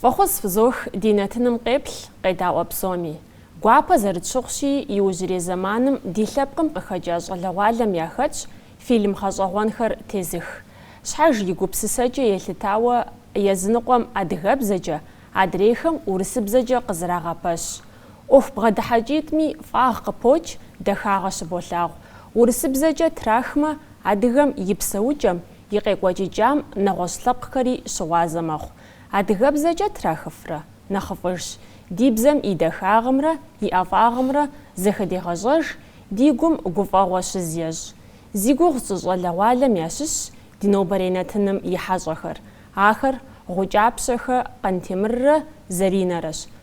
Фӏэхъус фызох ди нэтыным къеплъ, къедаӏуэ псоми. Гуапэ зэрытщыхъущи, иужьрей зэманым ди лъэпкъым къыхэкӏа щӏалэгъуалэм яхэтщ фильм гъэщӏэгъуэнхэр тезых. Щхьэж и гупсысэкӏэ елъытауэ, языныкъуэм адыгэбзэкӏэ, адрейхэм урысыбзэкӏэ къызрагъэпэщ. ӏуэху бгъэдыхьэкӏитӏми фӏагъ къыпокӏ, дахагъэ щыболъагъу. Урысыбзэкӏэ трахмэ, адыгэм и псэукӏэм, и къекӏуэкӏыкӏам нэгъуэщӏ лъэпкъхэри щыгъуазэ мэхъу. Адыгэбзэкӏэ трахыфрэ? Нэхъыфӏыжщ. Ди бзэм и дахагъымрэ и ӏэфӏагъымрэ зэхэдегъэщӏэж, ди гум гуфӏэгъуэ щыз ещӏ. Зи гугъу тщӏы щӏалэгъуалэм ящыщщ ди нобэрей нэтыным и хьэщӏэхэр. Ахэр Гъукӏапщэхэ Къантемыррэ Заринэрэщ.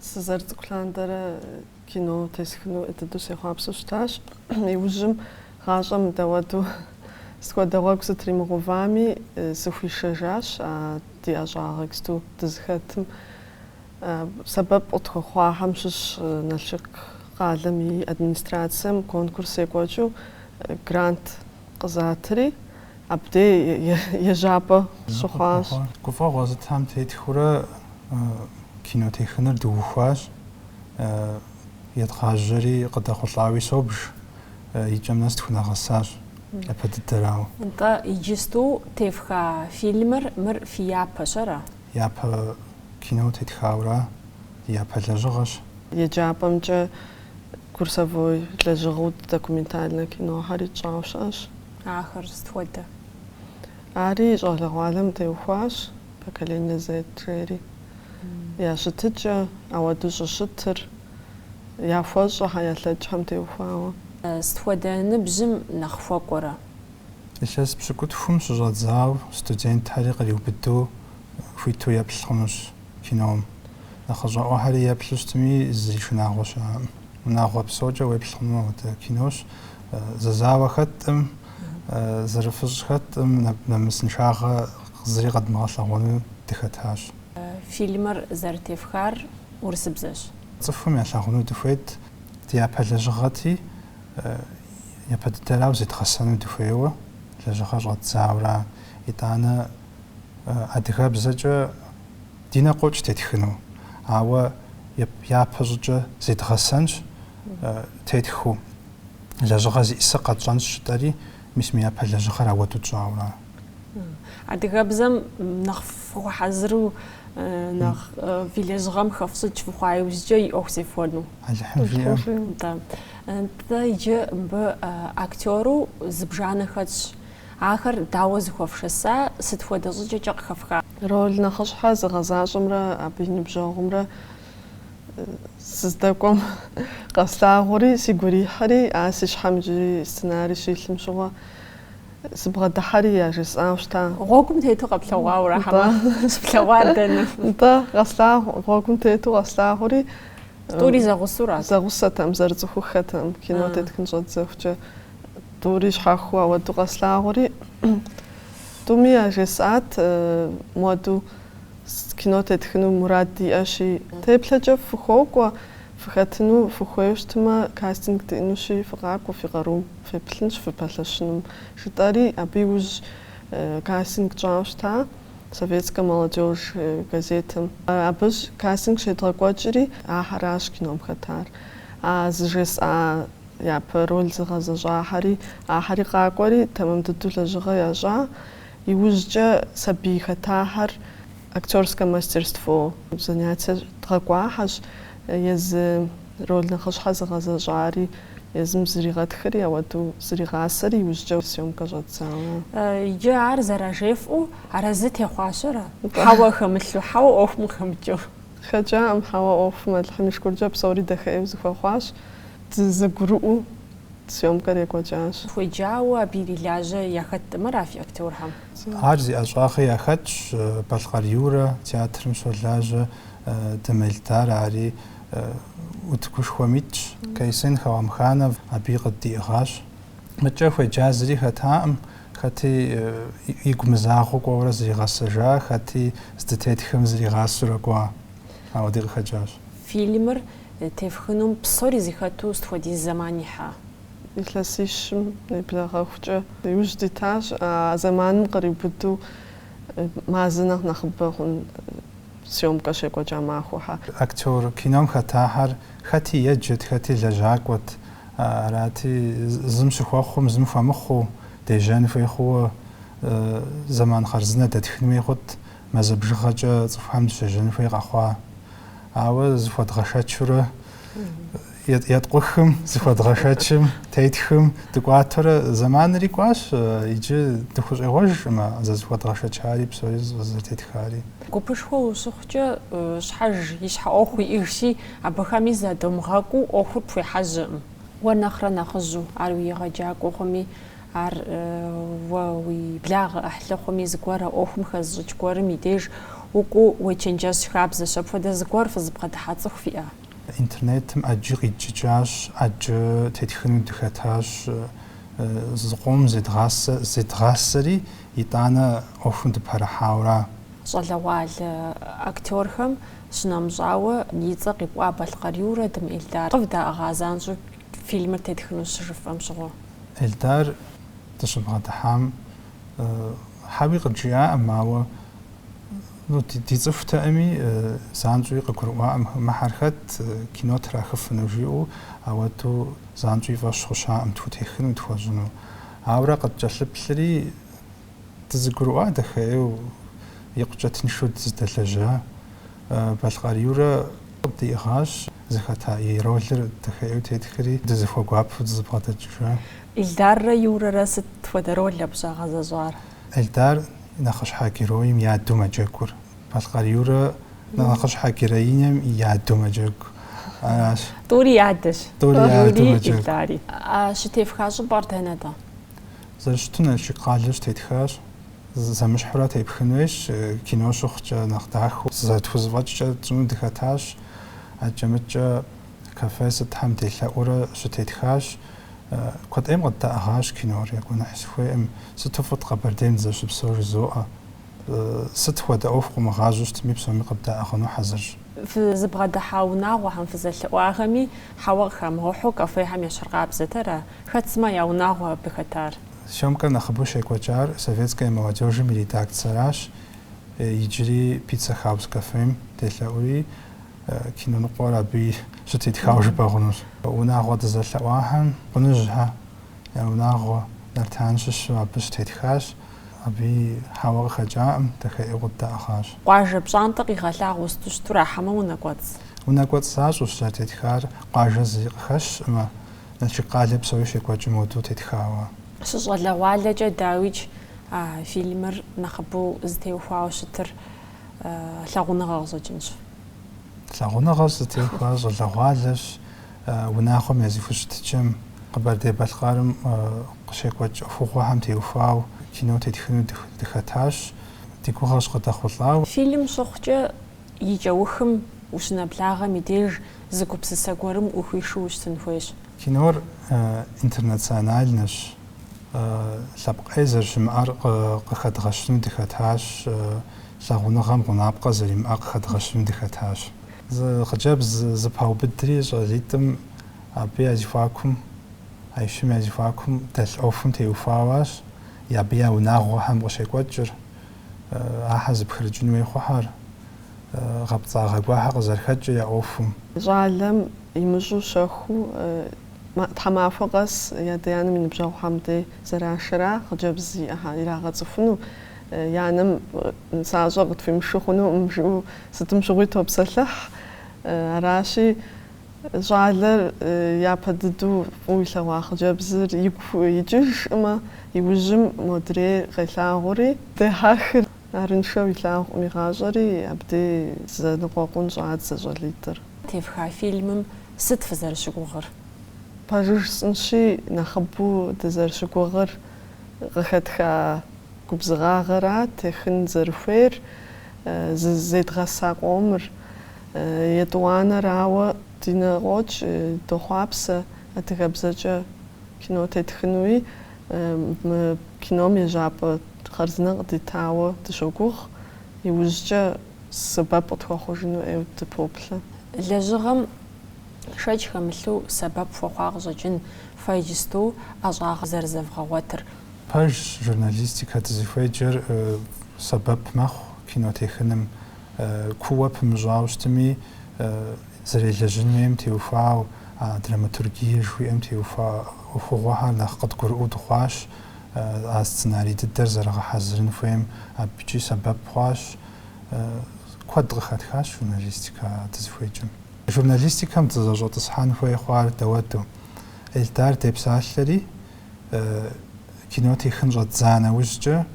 Сызэрыцӏыкӏу лъандэрэ кино тесхыну дыдэу сехъуапсэу щытащ. Иужьым гъащӏэм дауэду сыт хуэдэ гъуэгу сытримыгъэувами, сыхуишэжащ а ди ӏэщӏагъэ иджыпсту дызыхэтым. Сэбэп къытхуэхъуахэм щыщ Налшык къалэм и администрацэм конкурс екӏуэкӏыу грант къызатри, абдей ежьапӏэ щыхъуащ. Гуфӏэгъуэ зытам тетхыурэ кино техыныр дыухуащ, едгъажьэри къыдэхъулӏауи собж, икӏэм нэс тхунэгъэсащ япэ дыдэрауэ. Нтӏэ, иджысту тефха фильмыр, мыр фи япэщ, ара? Япэ кино тетхауэра, ди япэ лэжьыгъэщ. Еджапӏэмкӏэ. Курсовой лэжьыгъэу документальнэ кинохэри тщӏауэ щыӏэщ. Ахэр сыт хуэдэ? Ари щӏалэгъуалэм теухуащ Поколение Z жери. Я щытыкӏэ, ауэду щӏыщытыр, яхуэщӏэхэ, ялъэкӏхэм теухуауэ. Сыт хуэдэ ныбжьым нэхъ хуэкӏуэрэ? Илъэс пщыкӏутхум щыщӏэдзауэ студентхэри къриубыдэу хуиту еплъ хъунущ. кином. Нэхъыщӏэӏуэхэри еплъу щытми, зи шынагъуэ щыӏэкъым. Унагъуэ псокӏэ уеплъ хъуну ауэдэ кинощ. Зэзауэ хэттӏым, зэрыфыщӏ хэттӏым, нэмысыншагъэ зыри къэдмыгъэлъэгъуэну дыхэтащ. Фильмыр зэрытефхар урысыбзэщ. Цӏыхум ялъагъуну дыхуейт. Ди япэ лэжьыгъэти, япэ дыдэрауэ зедгъэсэну дыхуейуэ, лэжьыгъэ щӏэддзауэра, итӏанэ. адыгэбзэкӏэ ди нэ къокӏ тетхыну, ауэ япэ щӏыкӏэ зедгъэсэнщ тетхыу, лэжьыгъэ зиӏысыр къэтщӏэнщ жытӏэри, мис мы япэ лэжьыгъэр ауэдэу тщӏауэ. Адыгэбзэм нэхъ фыхуэхьэзыру, нэхъ фи лэжьыгъэм хэфщӏыкӏ фыхъуа иужькӏэ и ӏуэху зефхуэну? Алыхьым жиӏэ. Атӏэ иджы мыбы актеру зыбжанэ хэтщ. Ахэр дауэ зыхуэфшэса, сыт хуэдэ щӏыкӏэкӏэ къыхэфха? Роль нэхъыщхьэ зыгъэзащӏэмрэ абы и ныбжьэгъумрэ сыздэкӏуэм къэслъагъури, сигу ирихьэри, а си щхьэм иджыри сценарий щилъым щыгъуэ сыбгъэдыхьэри яжесӏауэ щыта. Гъуэгум тету къэплъэгъуауэрэ хьэмэ щыплъэгъуар дэнэ? Нтӏэ, къэслъагъу, гъуэгум тету къэслъагъури. Тӏури зэгъусэурат? Зэгъусэтэм, зэрыцӏыхуххэтэм, кино тетхын щӏэддзэхукӏэ. Тӏури щхьэхуэу ауэду къэслъагъури, тӏуми яжесӏат моду кино тетхыну мурад диӏэщи, теплъэкӏэ фыхуокӏуэ, фыхэтыну фыхуейу щытмэ, кастинг диӏэнущи, фыкъакӏуэ фи къарум, феплъынщ фыпэлъэщынум, жытӏэри, абы иужь кастинг тщӏауэ щыта Советскэ молодёжь газетым. Абы кастинг щедгъэкӏуэкӏри, ахьэращ кином хэтар. А зыжесӏа Япэ роль зыгъэзэщӏахьэри ахьэри къакӏуэри, тэмэм дыдэу лэжьыгъэ ящӏа. Иужькӏэ сабий хэтахьэр актерскэ мастерство занятие дгъэкӏуахьэщ. Езы роль нэхъыщхьэ зыгъэзэщӏари, езым зригъэтхри, ауэдэу зригъасэри иужькӏэ съемкэ щӏэддзауэ. Иджы ар зэражефӏэу арэзы техъуахэра? Хьэуэ хэмылъу, хьэуэ ӏуэхум хэмыкӏыу. Хэкӏаӏым хьэуэ ӏуэхум, Алыхьым и шыкуркӏэ псори дахэ ӏейуэ зыхуэхъуащ. Дызэгурыӏуэу съемкэр екӏуэкӏащ. Хуеджауэ абы ирилажьэ яхэтт мыр а фи актерхэм? Ар зи ӏэщӏагъи яхэтщ, Балъкъэр Юрэ театрым щолажьэ, Дым Эльдар ари утыкушхуэм итщ, Кайсын Холамханов абыи къыддиӏыгъащ. Мыдкӏэ хуеджа зыри хэтаӏым, хэти игу мызагъэу кӏуэурэ зригъэсэжа, хэти здытетхэм зригъасэурэ кӏуа. Ауэди къыхэкӏащ. Фильмыр тефхынум псори зыхэту сыт хуэдиз зэман ихьа? Илъэсищым нэблэгъэхукӏэ иужь дитащ, а зэманым къриубыду мазэ нэхъ нэхъыбэ хъун съемкэ щекӏуэкӏа махуэхьэ. Актёр кином хэтахьэр хэти еджэт, хэти лэжьакӏуэт. Арати, зым щыхуэхъум, зым хуэмыхъуу, дежьэн хуей хъууэ зэман хъарзынэ дэтхын хуей хъут. мазэ бжыгъэкӏэ цӏыхухэм дыщежьэн хуей къэхъуа. Ауэ зыхуэдгъэшэчурэ еткъухым, зыхуэдгъэшэчым, тетхым дыкӏуатурэ зэманри кӏуащ, иджы дыхущӏегъуэжкъымэ зызыхуэдгъэшэчари псори зэтетхари. Гупышхуэ ущыхъукӏэ, щхьэж и щхьэ ӏуэху иӏэжщи, абыхэми задомыгъэкӏуу ӏуэхур пхуехьэжьэӏым. Уэ нэхърэ нэхъыжьу ар уи егъэджакӏуэ хъуми, Ар уэ уи благъэ ӏыхьлы хъуми, зыгуэрэ ӏуэхум хэзыщӏыкӏ гуэрым и деж укӏуу уечэнджэщ хабзэщ. Апхуэдэ зыгуэр фызыбгъэдыхьа цӏыху фиӏэ? Интернетым ӏэджи къидджыкӏащ, ӏэджэ тетхыну дыхэтащ, зыкъом зедгъасэ, зедгъасэри, итӏанэ ӏуэхум дыпэрыхьауэра? Щӏалэгъуалэ актёрхэм щынэмыщӏауэ и цӏэ къипӏуа Балъкъэр Юрэ, Дым Эльдар, къывдаӏыгъа занщӏэу? Фильмыр тетхыну щыжыфӏэм щыгъуэ. Эльдар дыщыбгъэдыхьам хьэуи къыджиӏаӏым, ауэ ди цӏыхутэӏыми занщӏэуи къыгурыӏуаӏым, мыхэр хэт, кино трахыфыну жиӏэу, ауэдэу занщӏэу и фӏэщ хъущаӏым тхутехыну, тхуэщӏыну. Ауэрэ къыткӏэлъыплъри. Дызэгурыӏуа дахэӏеу, икъукӏэ тыншу дыздэлэжьа. Балъкъэр Юрэ къыддиӏыгъащ, зыхэта и ролыр дахэӏеу тетхри, дызыхуэгуапэу дызэбгъэдэкӏыжа. Эльдаррэ Юрэрэ сыт хуэдэ роль абы щагъэзэщӏар? Эльдар нэхъыщхьэ героим и адэу мэджэгур. Балъкъэр Юрэ, нэхъыщхьэ героинэм и адэу мэджэгу. Аращ. Тӏури и адэщ. Тӏури и адэу мэджэгу. Эльдари. А щытефха щӏыпӏэр дэнэ-тӏэ? Зэрыщыту Налшык къалэ щытетхащ. Зэмыщхьурэ тепхын хуейщ, кино щыхъукӏэ нэхъ дахэу. Зэтхузэфӏэкӏкӏэ тщӏыну дыхэтащ. Акӏэ-мыкӏэ кафе сытхэм делъэӏуурэ щытетхащ. Куэд ӏейм къыддаӏыгъащ кинор, я гуэныхь сыхуейӏым. Сыту фӏыт Къэбэрдейм дызэщыпсэур жызоӏэ. Сыт хуэдэ ӏуэху къыумыгъажьэу щытми, псоми къыбдаӏыгъыну хьэзырщ. Фызыбгъэдыхьа унагъуэхэм фызэлъэӏуахэми хьэуэ къыхамыгъэхьу кафехэм ещхьыркъабзэтэра? Хэт сымэ я унагъуэ абы хэтар? Съёмкэр нэхъыбэу щекӏуэкӏар Советская молодежьым и редакциеращ, иджыри Пицца Хаус кафем делъэӏури, кино ныкъуэр абыи щытетхауэ жыпӏэ хъунущ. Унагъуэ дызэлъэӏуахэм Къуныжьхьэ я унагъуэ Нартан щыщу абы щытетхащ, абыи хьэуэ къыхэкӏаӏым, дахэӏеу къыддаӏыгъащ. Къуажэ пщӏантӏэ къигъэлъагъуэу сыту щыту ара хьэмэ унэкӏуэцӏ? Унэкӏуэцӏ защӏэущ зэрытетхар, къуажэ зыри къыхэщкъымэ. Налшык къалэ псори щекӏуэкӏыу модэу тетхауэ. Фыщыщӏалэгъуалэкӏэ, дауикӏ, фильмыр нэхъыбэу зытеухуауэ щытыр лъагъуныгъэ къыщӏэкӏынщ. Лъагъуныгъэр зытеухуар щӏалэгъуалэщ, унагъуэм я зэхущытыкӏэм, Къэбэрдей-Балъкъэрым къыщекӏуэкӏ ӏуэхугъуэхэм теухуауэ кино тетхыну дыхэтащ, ди гугъэщ къыдэхъулӏауэ. Фильм щыхъукӏэ, и кӏэухым ущынэблагъэм и деж зы гупсысэ гуэрым ухуишэу ущытын хуейщ. Кинор интернациональнэщ, лъэпкъ ӏей зэрыщымыӏэр къыхэдгъэщыну дыхэтащ, лъагъуныгъэм гъунапкъэ зэримыӏэр къыхэдгъэщыну дыхэтащ. Зы хъыджэбз зыпаубыдри щӏалитӏым абы я зэхуакум, а щым я зэхуакум дэлъ ӏуэхум теухуауэ аращ, абы я унагъуэхэм къыщекӏуэкӏыр. ахьэр зыпхырыкӏын хуей хъухьэр, гъэпцӏагъэ гуэрхьэр къызэрыхэкӏыр я ӏуэхум. Щӏалэм имыщӏу щэхуу тхьэмахуэ къэс и адэ-анэм и ныбжьэгъухьэм дей зэрашэра хъыджэбз зиӏэхэр ирагъэцӏыхуну, и анэм нысащӏэ къытхуимышэу хъунуӏым жиӏэу сытым щыгъуи топсэлъыхь. Аращи, Щӏалэр япэ дыдэу фӏыуэ илъэгъуа хъыджэбзыр игу икӏыжшӏымэ, иужьым модрейр къелъагъури, дехьэхыр арыншэу илъагъукъым и гъащӏэри, абдей зэныкъуэкъун щӏадзэ щӏалитӏыр. Тевха фильмым сыт фызэрыщыгугъыр? Пэжыр жысӏэнщи, нэхъыбэу дызэрыщыгугъыр къыхэтха губзыгъагъэрат техын зэрыхуейр, зызедгъэса къомыр. Етӏуанэрауэ ди нэ къокӏ, дохъуапсэ адыгэбзэкӏэ кино тетхынуи. Мы кином ежьапӏэ хъарзынэ къыдитауэ дыщогугъ, иужькӏэ сэбэп къытхуэхъужыну ӏейуэ дыпоплъэ. Лэжьыгъэм шэч хэмылъу сэбэп хуэхъуа къыщӏэкӏын фэ иджысту ӏэщӏагъэ зэрызэвгъэгъуэтыр. Пэжщ, журналистикэ дызыхуеджэр сэбэп мэхъу кино техыным. Кууэ пымыщӏауэ щытми, зэрелэжьын хуейм теухуауэ, а драматургие жыхуиӏэм теухуа ӏуэхугъуэхэр нэхъ къыдгурыӏуэу дыхъуащ, а сценарий дыдэр зэрыгъэхьэзырын хуейм абыкӏи сэбэп хъуащ. Куэд къыхэтхащ журналистикэ дызыхуеджэм. Журналистикэм дызэщӏэтӏысхьэн хуей хъуар дауэду, Эльдар депсалъэри, кино техын щӏэддза нэужькӏэ,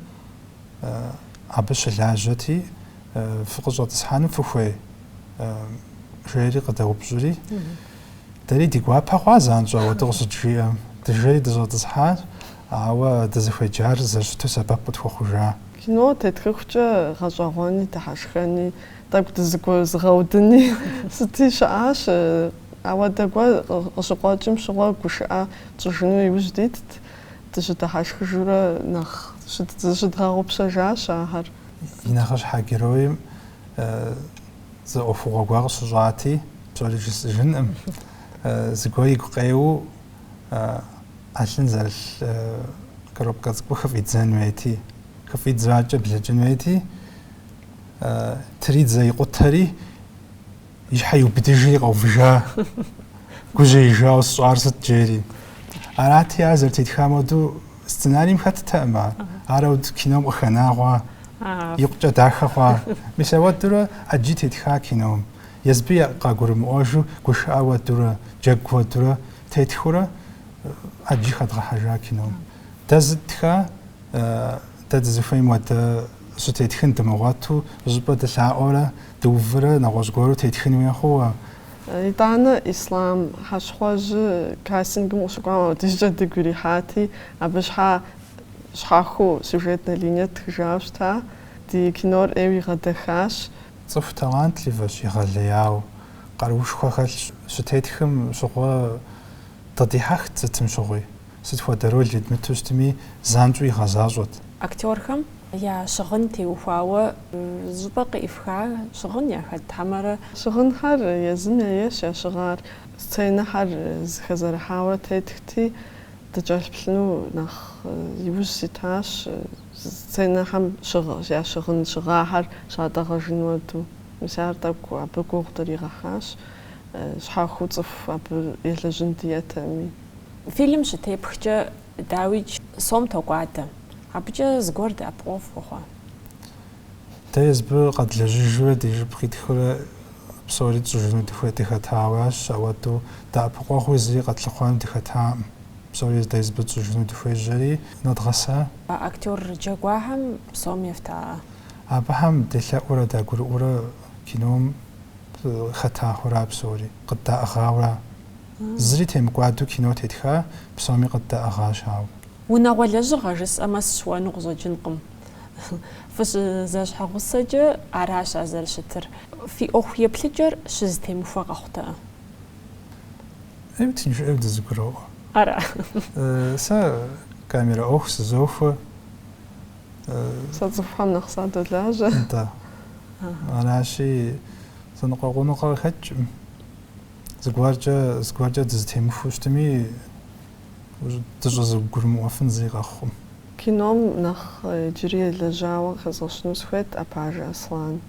Абы щылажьэти, Фыкъыщӏэтӏысхьэну фыхуей? жери къыдэупщӏри, Дэри ди гуапэ хъуа занщӏэу ауэдэ къыщыджиӏэм. Дыжэри дыщӏэтӏысхьащ, ауэ дызыхуеджар зэрыщыту сэбэп къытхуэхъужа. Кино тетхыхукӏэ гъэщӏэгъуэни дыхьэшхэни, тӏэкӏу дызыгуэзыгъэудыни сыти щыӏащ. Ауэдэ гуэр къыщыкъуэкӏым щыгъуэ гушыӏэ тщӏыжыну иужь дитт. дыщыдыхьэшхыжурэ нэхъ зыщыдгъэгъупщэжащ ахэр. И нэхъыщхьэ героим зы ӏуэхугъуэ гуэр къыщыщӏати, псори жысӏыжынкъым, зыгуэр игу къеуэу ӏэлъын зэрылъ коробкэ цӏыкӏур хыфӏидзэн хуейти, хыфӏидзакӏэ блэкӏын хуейти, тридзэ икъутэри, И щхьэ иубыдыжри къэувыжа, гужьеижауэ сщӏар сыт жери. Арати, ар зэрытетхам уэду сценарием хэттэкъым ар. Арэу кином къыхэнауэ, икъукӏэ дахэ хъуа. Мис ауэдурэ ӏэджи тетха кином. Езыби къагурымыӏуэжу гушыӏэ уэдурэ, джэгу уэдурэ тетхыурэ ӏэджи хэдгъэхьэжа кином. Дэ зытха, дэ дызыхуейм уэдэ щытетхын дымыгъуэту, щӏыпӏэ дылъаӏуэрэ, Дыувырэ нэгъуэщӏ гуэру тетхын хуей хъууэ. Итӏанэ Ислъам Хьэщхъуэжьы кастингым къыщыкӏуам ауэдизкӏэ дыгу ирихьати, абы щхьэ щхьэхуэу сюжетнэ линие тхыжауэ щыта, ди кинор ӏейуэ игъэдэхащ. Цӏыху талантливэщ, егъэлеяуэ, къаруушхуэ хэлъщ, щытетхым щыгъуэ дыкъыдихьэхт сытым щыгъуи. Сыт хуэдэ роль едмыту щытми, занщӏэу игъэзащӏэт. Актёрхэм я щыгъын теухуауэ щӏыпӏэ къифха щыгъын яхэт хьэмэрэ? Щыгъынхэр езым яещ я щыгъар. Сценэхэр зыхэзэрыхьауэ тетхти, дыкӏэлъплъыну нэхъ иужь ситащ, сценэхэм я щыгъын щыгъахэр щатӏэгъэжын уэду. Мис ар тӏэкӏу абы гугъу дыригъэхьащ, щхьэхуэу цӏыху абы елэжьын диӏэтэми. Фильм щытепхкӏэ, дауикӏ, сом токӏуадэ. Абыкӏэ зыгуэр дэӏэпыкъуэгъу фхуэхъуа? Дэ езыбы къэдлэжьыжурэ ди жып къитхурэ псори тщӏыжыну дыхуей дыхэтауэащ, ауэдэу дэӏэпыкъуэгъуи зыри къэтлъыхъуэну дыхэтакъым. Псори дэ езыбы тщӏыжыну дыхуежьэри, нэдгъэса. Актёр джэгуахэм сом ефтаӏэ? Абыхэм делъэӏуурэ дагурыӏуурэ кином хэтахэр псори къыддаӏыгъауэра. Зыри темыкӏуадэу кино тетха, псоми къыддаӏыгъащ, ауэ. Унагъуэ лэжьыгъэ жысӏэмэ сщыуэну къыщӏэкӏынкъым. Фыщызэщхьэгъусэкӏэ аращ ар зэрыщытыр. Фи ӏуэху еплъыкӏэр щызытемыхуэ къэхъутэ. Ӏейуэ тынш ӏейуэ дызыгуроӏуэ. Ара? Сэ камерэ ӏуэху сызохуэ. Сэ цӏыхухэм нэхъ садолажьэ. Нтӏэ. Аращи, зэныкъуэкъуныгъэ къыхэкӏкъым. Зыгуэркӏэ, зыгуэркӏэ дызытемыхуу щытми, дыщӏызыгурымыӏуэфын зыри къэхъукъым. Кином нэхъ иджыри елэжьауэ къыхэзгъэщыну сыхуейт Апажэ Аслан.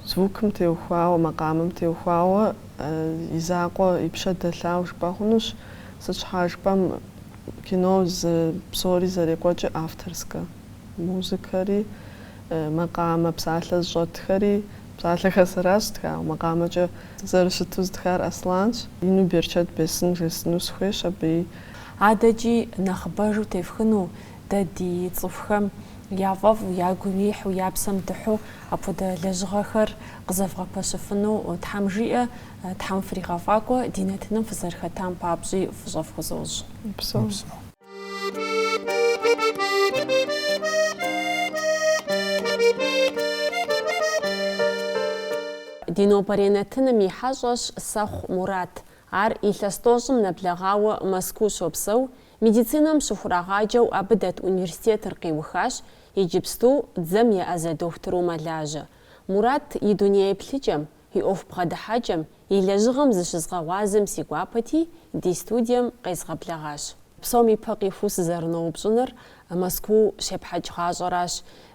Звукым теухуауэ, макъамэм теухуауэ и закъуэ, и пщэ дэлъауэ жыпӏэ хъунущ, сыт щхьа жыпӏэм кино зы псори зэрекӏуэкӏыр авторскэ. Музыкэри, макъамэ, псалъэ зыщӏэтхэри Псалъэхэр сэращ зытхауэ макъамэкӏэ. Зэрыщыту зытхар Асланщ. Ину берчэт бесын жесыну сыхуейщ абы. Адэкӏи нэхъыбэжу тефхыну, дэ ди цӏыхухэм яфӏэфӏу, ягу ирихьу, я псэм дыхьу апхуэдэ лэжьыгъэхэр къызэвгъэпэщыфыну Тхьэм жиӏэ, Тхьэм фригъэфӏакӏуэ, ди нэтыным фызэрыхэтам папщӏи фӏыщӏэ фхузощӏ. Упсэу. Ди нобэрей нэтыным и хьэщӏэщ Сэхъу Мурат. Ар илъэс тӏощӏым нэблэгъауэ Мэзкуу щопсэу, медицинэм щыхурагъаджэу абы дэт университетыр къиухащ, иджыпсту дзэм еӏэзэ дохутыру мэлажьэ. Мурат и дунееплъыкӏэм, И ӏуэху бгъэдыхьэкӏэм, и лэжьыгъэм зыщызгъэгъуазэм си гуапэти, ди студием къезгъэблэгъащ. Псом и пэ къихуу сызэрыноупщӏыныр Мэзкуу щепхьэкӏ гъащӏэращ.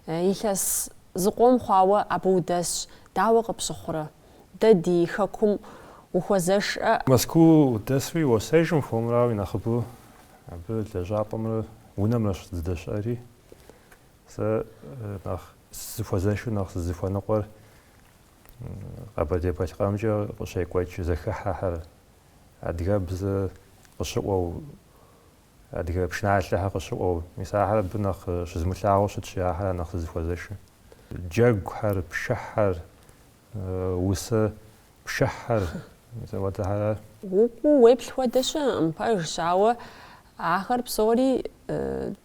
Илъэс зыкъом хъуауэ абы удэсщ, дауэ къыпщыхъурэ? Дэ ди Хэкум ухуэзэшрэ? Мэзкуу удэсри уесэжым хуэмурауи, нэхъыбэу абы лэжьапӏэмрэ унэмрэщ зыдэщыӏэри. Сэ нэхъ сызыхуэзэшыр, нэхъ сызыхуэныкъуэр Къэбэрдей-Балъкъэрымкӏэ къыщекӏуэкӏ зэхыхьэхэр, адыгэбзэ къыщыӏуэу, адыгэ пшыналъэхэр къыщыӏуэу, мис ахэр абы нэхъ щызымылъагъуу щытщи, ахэра нэхъ сызыхуэзэшыр. Джэгухэр, пшыхьхэр, усэ пшыхьхэр, мис ауэдэхэр ар. Укӏуу уеплъ хуэдэ щыӏэкъым пэжщ, ауэ Ахэр псори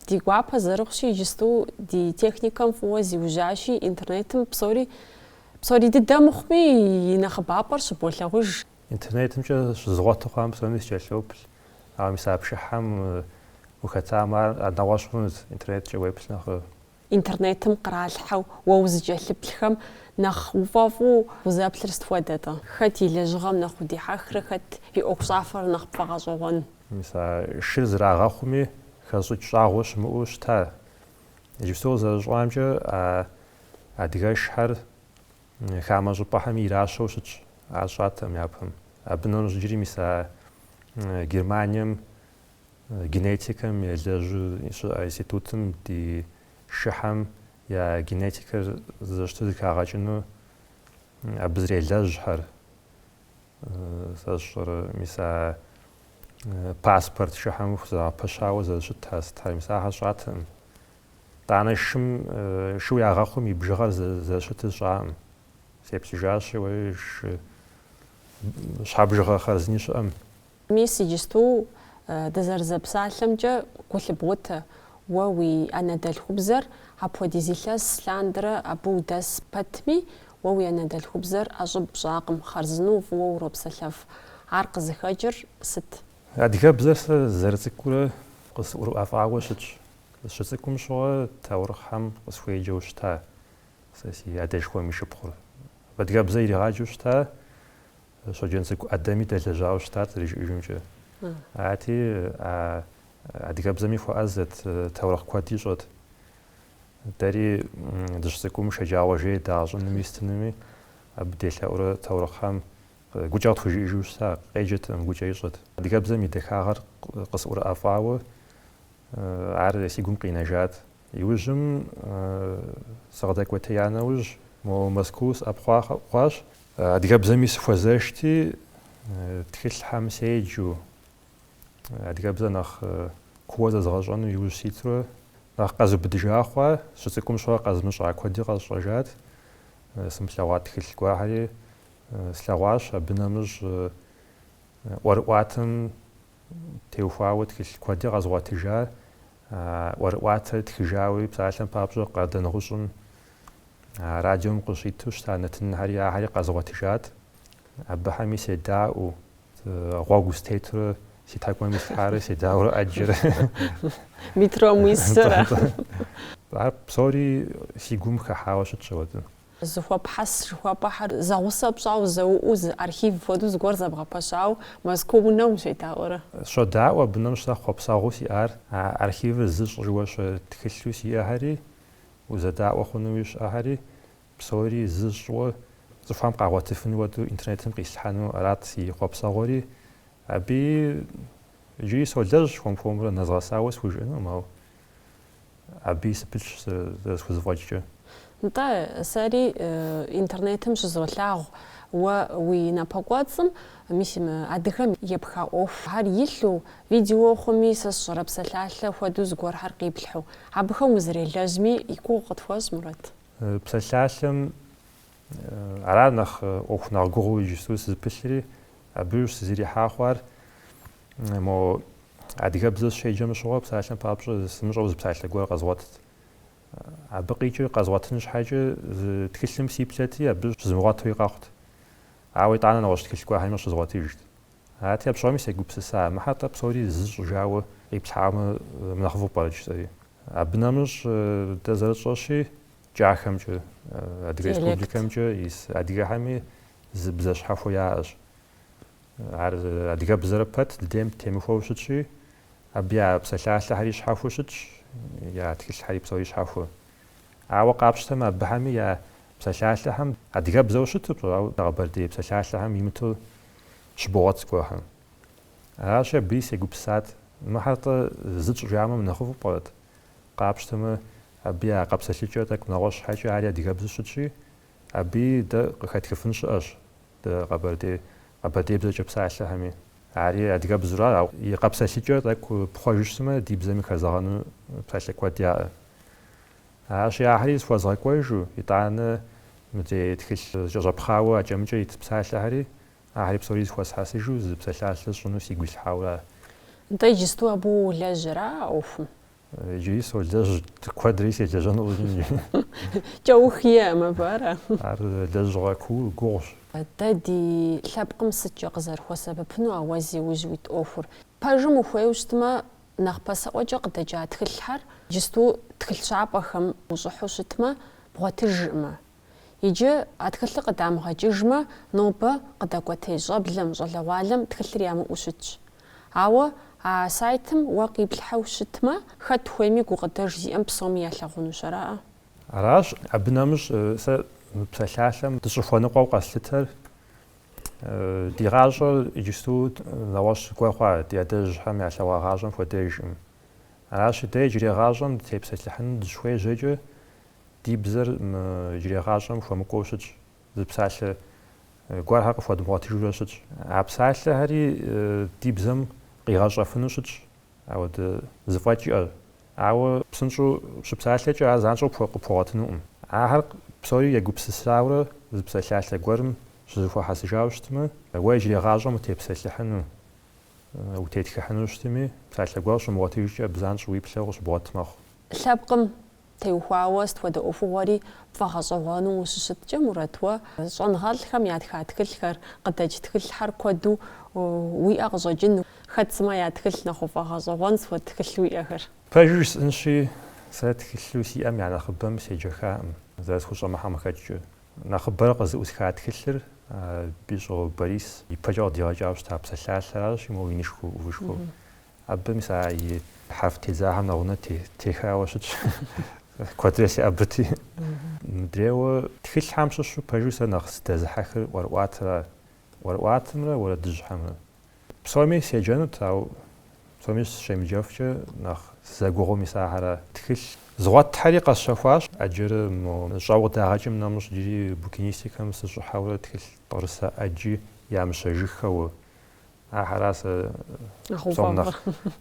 ди гуапэ зэрыхъущи, иджысту ди техникэм фӏыуэ зиужьащи, интернетым псори псори дыдэ мыхъуми, и нэхъыбапӏэр щыболъагъуж. Интернетымкӏэ щызгъуэту хъуам псоми сыкӏэлъоплъ, ауэ мис а пшыхьэм ухэтамэ, ар нэгъуэщӏ хъунут, интернеткӏэ уеплъ нэхърэ. Интернетым къралъхьэу уэ узыкӏэлъыплъхэм нэхъ уфӏэфӏу узэплъыр сыт хуэдэ-тӏэ? Хэт и лэжьыгъэм нэхъ удихьэхрэ хэт и ӏуэхущӏафэр нэхъ пфӏэгъэщӏэгъуэн? Мис а шыр зрагъэхъуми, хэщӏыкӏ щӏагъуэ щымыӏэу щыта? Иджыпсту къызэрысщӏамкӏэ, а адыгэшхьэр хамэ щӏыпӏэхэми иращэу щытщ, ар сщӏатэкъым япэм. Абы нэмыщӏ иджыри мис а Германием Генетикэм елэжьу щыӏэ институтым ди шыхьэм я генетикэр зэрыщыту зыхагъэкӏыну абы зрелэжьхьэр, сэ сщӏэрэ, мис а паспорт шыхьэм хузэгъэпэщауэ зэрыщытар сытар, мис ахэр сщӏатэкъым. Тӏанэ шым, шыу ягъэхъум и бжыгъэр зэрыщытыр сщӏакъым. Сеплъыжащи, уэи, шы щхьэбжыгъэ хъарзыни щыӏэм, Мис иджысту дызэрызэпсалъэмкӏэ гу лъыбгъутэ, уэ уи анэдэлъхубзэр апхуэдиз илъэс лъандэрэ абы удэс пэтми, уэ уи анэдэлъхубзэр ӏэщӏыб пщӏакъым, хъарзынэу фӏыуэ уропсэлъэф. Ар къызыхэкӏыр сыт? Адыгэбзэр сызэрыцӏыкӏурэ къысӏурыӏэфӏауэ щытщ. Сыщыцӏыкӏум щыгъуэ таурыхъхэм къысхуеджэу щыта сэ си адэшхуэм и шыпхъур. Адыгэбзэ иригъаджэу щыта Щоджэнцӏыкӏу ӏэдэми дэлэжьауэ щытат зэрыжиӏэжымкӏэ. Арати, а адыгэбзэми хуэӏэзэт, таурыхъ куэд ищӏэт. Дэри дыщыцӏыкӏум шэджагъуэ жей дагъэщӏынуми стынуми, абы делъэӏурэ таурыхъхэм гукӏэ къытхужиӏэжу щыта, къеджэтэкъым, гукӏэ ищӏэт. Адыгэбзэм и дахагъэр къысӏурыӏэфӏауэ ар си гум къинэжат. Иужьым сыкъыдэкӏуэтея нэужь, мо Мэзкуу сыӏэпхъуа хъуащ. Адыгэбзэми сыхуэзэшти, тхылъхьэм седжу, адыгэбзэ нэхъ куууэ зэзгъэщӏэну иужь ситурэ нэхъ къэзубыдыжа хъуа, сыщыцӏыкӏум щыгъуэ къэзмыщӏа куэди къэсщӏэжат. Сымылъэгъуа тхылъ гуэрхьэри слъэгъуащ, абы нэмыщӏ ӏуэрыӏуатэм, теухуауэ тхылъ куэди къэзгъуэтыжа, ӏуэрыӏуатэр тхыжауи, псалъэм папщӏэ Къардэнгъущӏым радиом къыщиту щыта нэтынхьэри ахэри къэзгъуэтыжат. Абыхэми седаӏуэу, гъуэгу стетурэ си тхьэкӏумэм ислъхьарэ седаӏуэурэ ӏэджэрэ. Метром уисэрэ. Ар псори си гум хыхьауэ щытщ. А уэ-тӏэ Зыхуэпхьэс жыхуэпӏэхэр зэгъусэ пщӏауэ зэуэ зы архив хуэдэу зыгуэр зэбгъэпэщауэ Мэзкуу унэм ущедаӏуэрэ? Сыщодаӏуэ, абы нэмыщӏ сэ хъуэпсэгъуу сиӏар, а архивыр зы сщӏыжауэ щэ тхылъу сиӏэхэри, узэдаӏуэ хъунуи щыӏэхэри, псори зы сщӏыжауэ цӏыхухэм къагъуэтыфын хуэдэу интернетым къислъхьэну арат си хъуэпсэгъуэри. Абыи иджыри солэжь хуэм-хуэмурэ нэзгъэсауэ схужыӏэнукъым, ауэ Абыи сыпылъщ зэрысхузэфӏэкӏкӏэ. Нтӏэ, сэри интернетым щызолъагъу уэ уи напэкӏуэцӏым, мис мы адыгэм епха ӏуэхухэр илъу, видео хъуми, сэ сщӏэрэ псалъалъэ хуэдэу зыгуэрхэр къиплъхьу. Абыхэм узэрелэжьми, и гугъу къытхуэщӏ, Мурат. Псалъалъэм ара нэхъ ӏуэху нэхъ гугъуу иджысту сызыпылъри, абы сызэрихьа хъуар Мо адыгэбзэ сыщеджэм щыгъуэ псалъэм папщӏэ сымыщӏэу зы псалъэ гуэр къэзгъуэтт. Абы къикӏыр къэзгъуэтын щхьэкӏэ зы тхылъым сиплъэти, абы щызмыгъуэтуи къэхъут. Ауэ итӏанэ нэгъуэщӏ тхылъ гуэрхэми щызгъуэтыжт. Арати, апщыгъуэми сегупсыса, мыхьэр тӏэ псори зы щӏыжауэ къиплъхьамэ, мынэхъыфӏу пӏэрэ жысӏэри. Абы нэмыщӏ, дэ зэрытщӏэщи, кӏахэмкӏэ, Адыгэ Республикэмкӏэ ис адыгэхэми зы бзэ щхьэхуэ яӏэщ. Ар адыгэбзэрэ пэт дыдейм темыхуэу щытщи, абы я псалъалъэхэри щхьэхуэу щытщ, я тхылъхэри псори щхьэхуэ. Ауэ къапщтэмэ, абыхэми я псалъалъэхэм адыгэбзэу щыту пщӏэ, ауэ къэбэрдей псалъалъэхэм имыту щыбогъуэт зыгуэрхэр. Аращи, абыи сегупсысат, Мыхьэр тӏэ зы тщӏыжамэ мынэхъыфӏу пӏэрэт? Къапщтэмэ, абы я къэпсэлъыкӏэр тӏэкӏу нэгъуэщӏ щхьэкӏэ ари адыгэбзэу щытщи, абыи дэ къыхэтхыфын щыӏэщ, Дэ къэбэрдей, къэбэрдейбзэкӏэ псалъэхэми. Ари адыгэбзэу ара, ауэ и къэпсэлъыкӏэр тӏэкӏу пхъуэжу щытмэ, ди бзэми хэзэгъэну псалъэ куэд яӏэ. Аращи, ахэри зыхуэзгъэкӏуэжу, итӏанэ мыдрей тхылъ зэкӏэщӏэпхъауэ акӏэ-мыкӏэ ит псалъэхэри, ахэри псори зыхуэсхьэсыжу зы псалъалъэ сщӏыну сигу ислъхьауэ ара? Нтӏэ иджысту абы уелэжьрэ а ӏуэхум? Иджыри солэжь куэдри селэжьэну. Кӏэух иӏэкъым абы, ара? Ар лэжьыгъэ куу гугъущ. Дэ ди лъэпкъым сыткӏэ къызэрыхуэсэбэпыну уэ зи ужь уит ӏуэхур? Пэжым ухуейуэ щытмэ, нэхъ пасэӏуэкӏэ къыдэкӏа тхылъхьэр, иджысту тхылъ щапӏэхэм ущӏыхьу щытмэ, бгъуэтыжыркъымэ. Иджы а тхылъыр къыдамыгъэкӏыжмэ, нобэ къыдэкӏуэтей щӏэблэм, щӏалэгъуалэм тхылъыр ямыӏэу щытщ. Ауэ а сайтым уэ къиплъхьэу щытмэ, хэт хуейми гукъыдэж зиӏэм псоми ялъагъунущ, араӏэ? Аращ, абы нэмыщӏ сэ мы псалъалъэм дыщӏыхуэныкъуэу къэслъытэр, ди гъащӏэр иджысту нэгъуэщӏ гуэр хъуа ди адэжьхэм ялъэгъуа гъащӏэм хуэдэжкъым. Аращи, дэ иджырей гъащӏэм дытепсэлъыхьыну дыщыхуежьэкӏэ, Ди бзэр мы иджырей гъащӏэм хуэмыкӏуэу щытщ, зы псалъэ гуэрхэр къыхуэдмыгъуэтыжурэ щытщ. А псалъэхэри ди бзэм къигъэщӏэфыну щытщ ауэдэ зэфӏэкӏ иӏэ, ауэ псынщӏэу щыпсалъэкӏэ ар занщӏэу пхуэгъуэтынукъым. Ахэр псори егупсысауэрэ зы псалъалъэ гуэрым щызэхуэхьэсыжауэ щытмэ, уэ иджырей гъащӏэм утепсэлъыхьыну, утетхыхьыну щытми, псалъэ гуэр щумыгъуэтыжкӏэ абы занщӏэу уиплъэу къыщыбгъуэт мэхъу. Лъэпкъым Теухуауэ сыт хуэдэ ӏуэхугъуэри пфӏэгъэщӏэгъуэну ущыщыткӏэ, Мурат, уэ щӏэнгъэлӏхэм ятха тхылъхэр, къыдэкӏ тхылъхьэр куэду уиӏэ къыщӏэкӏыну, хэт сымэ я тхылъ нэхъ пфӏэгъэщӏэгъуэн, сыт хуэдэ тхылъ уиӏэхэр. Пэжу жысӏэнщи, сэ тхылъу сиӏэм я нэхъыбэм седжэхакъым, зэрысхущӏэмыхьэм къыхэкӏкӏэ. Нэхъыбэрэ къызэӏусха тхылъыр Бищӏо Борис ипэкӏэ къыдигъэкӏауэ щыта псалъалъэращи, моуэ инышхуэу, ӏувышхуэу. Абы, мис а хьэрф тедзахэм нэгъунэ техауэ щытщ. Куэдрэ сиӏэбэти. Мыдрейуэ тхылъхьэм щыщу пэжу сэ нэхъ сдэзыхьэхыр ӏуэрыӏуатэра. ӏуэрыӏуатэмрэ уэрэдыжьхэмрэ. Псоми седжэнут, ауэ псоми сыщемыджэфкӏэ нэхъ сызэгугъур мис ахэра. Тхылъ згъуэтхьэри къэсщэхуащ. Ӏэджэрэ мо щӏэуэ дагъэкӏым нэмыщӏ иджыри букинистикэм сыщӏыхьэурэ тхылъ пӏырысэ ӏэджи ямыщэжыххэуэ, Ахьэра сэ псом